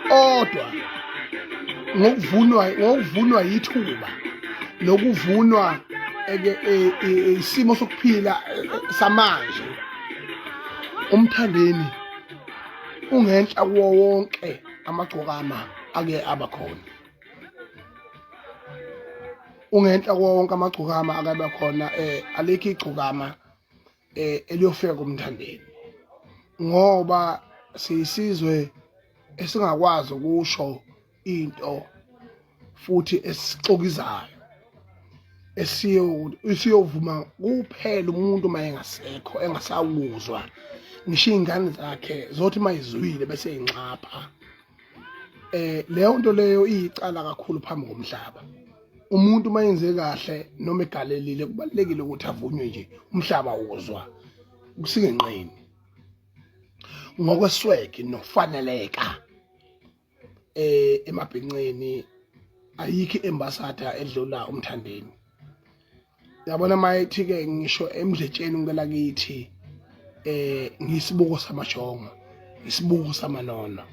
kodwa ngokuvunwa ngokuvunwa yithuba nokuvunwa e, e, e, isimo sokuphila samanje umthandeni ungenhla kuwo wonke amagcokama ake abakhona ungenhla kuwo wonke amagcokama akabe khona eh alikho igcokama eh eliyofika kumthandeni ngoba siyisizwe esingakwazi ukusho into futhi esixokizayo esiyo isiyovuma kuphela umuntu uma engasekho engasakuzwa ngisho iy'ngane zakhe zothi uma izwile bese inxapha um leyo nto leyo iyicala kakhulu phambi komhlaba umuntu uma yenze kahle noma egalelile kubalulekile ukuthi avunywe nje umhlaba wozwa kusingenqeni ngokwesweke nokufaneleka eh emabhinqeni ayikho embasada edlula umthandeni yabona mayithi ke ngisho emdletsheni ngicela kithi eh ngisibuko samashongo isibuko samanono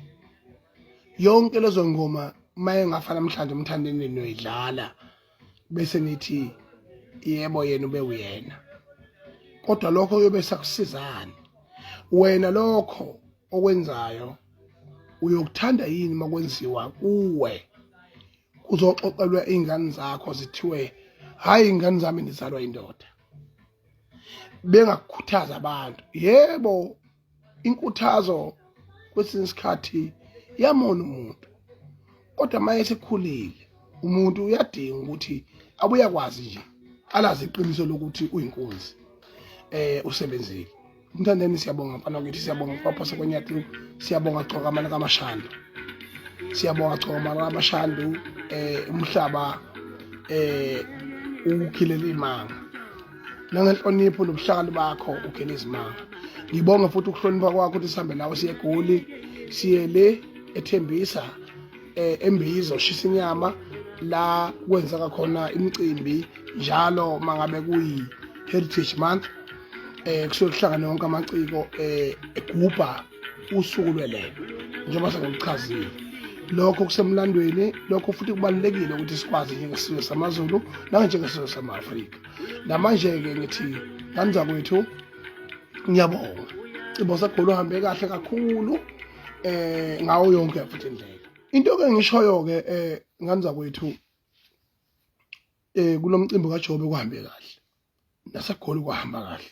yonke lezo ngoma uma engafa namhlanje umthandeni noyidlala bese nithi yebo yena ube uyena kodwa lokho kuyobe sakusizani wena lokho okwenzayo uyokuthanda yini makwenziwa kuwe kuzoxoxelwa izingane zakho zithiwe hayi ingane zami ndizalwa indoda bengakukhuthaza abantu yebo inkuthazo kwesinye isikhathi iyamona umuntu kodwa uma esekhulile umuntu uyadinga ukuthi abuya kwazi nje alazi iqiniso lokuthi uyinkunzi eh usebenzile umthandeni siyabonga mfana wakithi siyabonga kwapho sekwenyathu siyabonga gcoka amana kamashando siyabonga gcoka amana kamashando eh umhlaba eh ukukhilela imanga nangenhlonipho nobuhlakani bakho ukhele izimanga ngibonge futhi ukuhlonipha kwakho ukuthi sihambe nawe siye egoli siye le ethembisa eh, embizo shisa inyama la kwenzeka khona imicimbi njalo mangabe kuyi heritage month eh kusuke kuhlangane wonke amaciko eh egubha usuku lwelele njengoba sengikuchazile lokho kusemlandweni lokho futhi kubalulekile ukuthi sikwazi njengesizwe samazulu nanjengesizwe sama-afrika namanje-ke ngithi nganza kwethu ngiyabonga cibo sagolo uhambe kahle kakhulu eh ngawo yonke futhi indlela into ke ngishoyo ke eh nganza kwethu eh kulomcimbi kaJobe kuhambe kahle nasegoli kuhamba kahle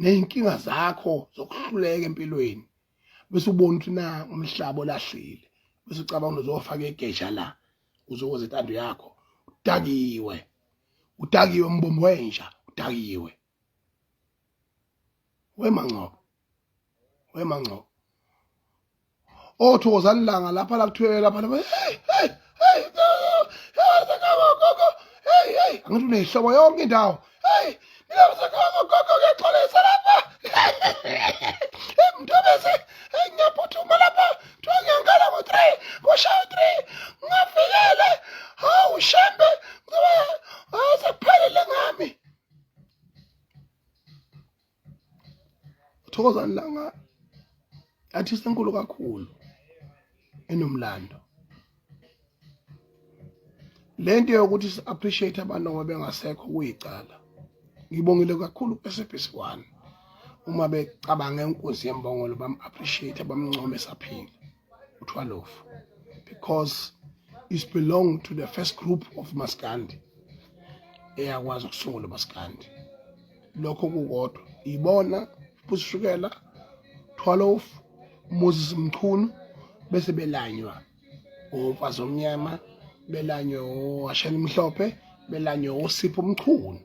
nezinkinga zakho zokuhluleka empilweni bese ubona ukuthi na umhlaba olahlile bese ucabanga uzofaka egeja la uzokoze intando yakho udakiwe udakiwe mbombo wenja udakiwe wemangcobo wemangcobo oh thokozani langa lapha la kuthiwe lapha lapha hey hey hey hey hey angithi unehlobo yonke indawo hey mina msekhona gogo ngiyaxolisa lapha emntobese ngiyaphuthuma lapha kuthiwa ngiyangala ngo-three kushaya u-three ngafikele hawu shembe ngizoba sekuphelile ngami uthokozani langa artist enkulu kakhulu enomlando lento yokuthi si appreciate abantu ngoba bengasekho kuyicala ngibongile kakhulu kuSBC 1 uma becabanga inkunzi yembongolo bam appreciate bamncome saphila u-12 because is belong to the first group of maskandi eyakwazi ukusungula maskandi lokho kukodwa ibona busishukela 12 Moses Mchunu bese belanywa omfazi omnyama belanywe owashela imhlophe belanywe osipho omchunu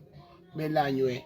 belanywe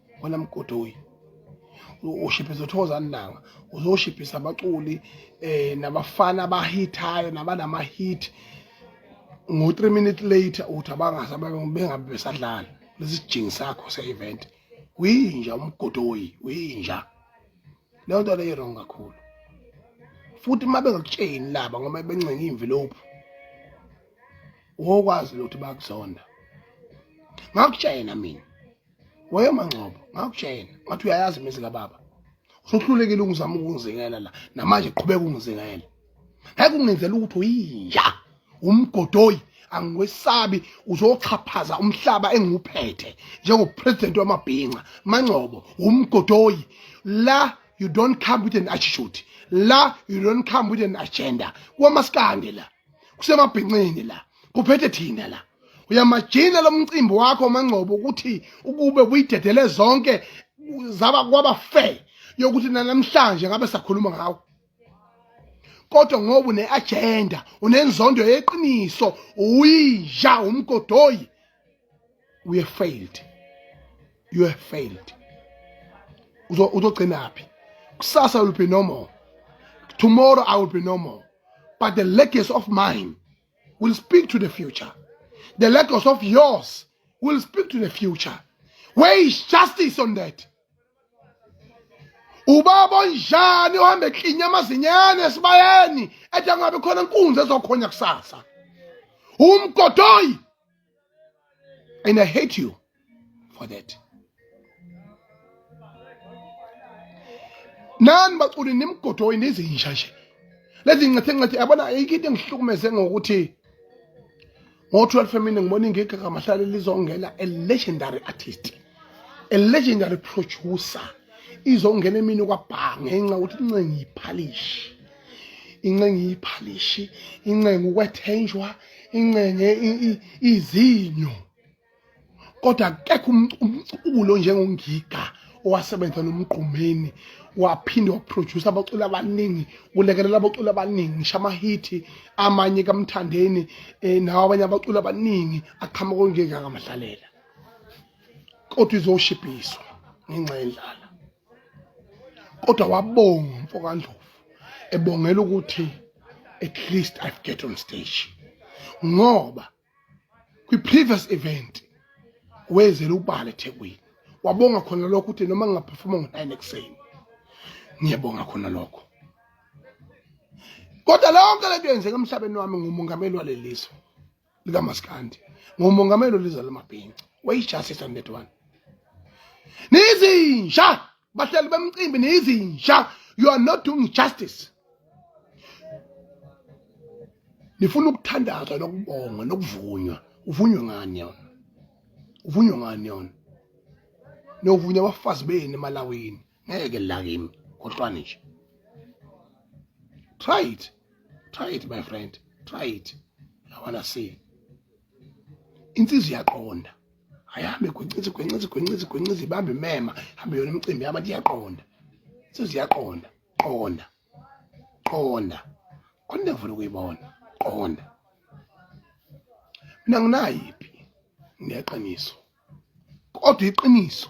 wena mgodoyi ushiphiza uThokozani Langa uzoshiphiza abaculi eh nabafana abahithayo nabanama hit ngo 3 minutes later uthi abangazi bengabe besadlala lesijingi sakho se event uyinja umgodoyi uyinja leyo nto leyo wrong kakhulu futhi uma bengakutsheni laba ngoba bencenga imvilophu wokwazi ukuthi bakuzonda ngakutshena mina wayemangcobo ngakutshena ngathi uyayazi imizi kababa usuhlulekile ukuzama ukungizingela la namanje qhubeka ungizingela ngeke ungenzela ukuthi uyinja umgodoyi angikwesabi uzoxhaphaza umhlaba engiwuphethe njengopresident wamabhinca mangcobo umgodoyi la you don't come with an attitude la you don't come with an agenda kwamaskandi la kusemabhincini la kuphethe thina la uyamajina lomcimbi wakho mangcobo ukuthi ukube buyidedele zonke zaba kwaba fair yokuthi namhlanje ngabe sakhuluma ngawo kodwa ngoba une-agenda unenzondo yeqiniso uyinja umgodoyi we have failed you have failed uzogcinaphi kusasa will be no more tomorrow i will be no more but the legacy of mine will speak to the future the legacy of yours will speak to the future where is justice on that ubaba onjani ohambe eklinya amazinyane esibayeni ethi angabe khona inkunzi ezokhonya kusasa umgodoyi And I hate you for that. Nani baculi nimgodoyi nezinja nje. Lezi ncathi ncathi yabona ayikho into engihlukumeze ngokuthi ngo-12 emini ngibona ingigagamahlale lizongena a legendary artist. a legendary producer izongena emini kwabhaa ngenxa ukuthi incenga iphalishi incenga iphalishi incenga ukwethenjwa incenga izinyo kodwa akekho um, um, umculo njengongiga owasebenza nomgqumeni waphinde waproduce abaculi abaningi ulekelela abaculi abaningi ngisho amahithi amanye kamthandeni um nawo abanye abaculi abaningi aqhamuka onjengakamadlalela kodwa izoshibhiswa ngenxa yendlala kodwa wabonga umfokandlovu ebongela ukuthi at least i've get on stage ngoba kwi-previous event wezela ubala ethekwini wabonga khona lokho ukuthi noma ngingaphefoma ngo-nine ekuseni ngiyabonga khona lokho kodwa lonke lento yenzeka emhlabeni wami ngumongameli walelizwe likaMaskandi ngomongameli olizwe lamabhinca wayijasisa on that one nizinja bahleli bemcimbi nizinja you are not doing justice nifuna ukuthandazwa nokubongwa nokuvunywa uvunywe ngani yona uvunywe ngani yona novunywa abafazi benu emalawini ngeke la kimi khohlwani nje try it try it my friend try it i wanna see insizwa iyaqonda ayihambe gwencizi gwencizi gwencizi gwencizi ibambe imema hambe yona imicimbi yabantu iyaqonda insizwa iyaqonda qonda qonda konde ngifuna ukuyibona qonda mina nginayiphi ngineqiniso kodwa iqiniso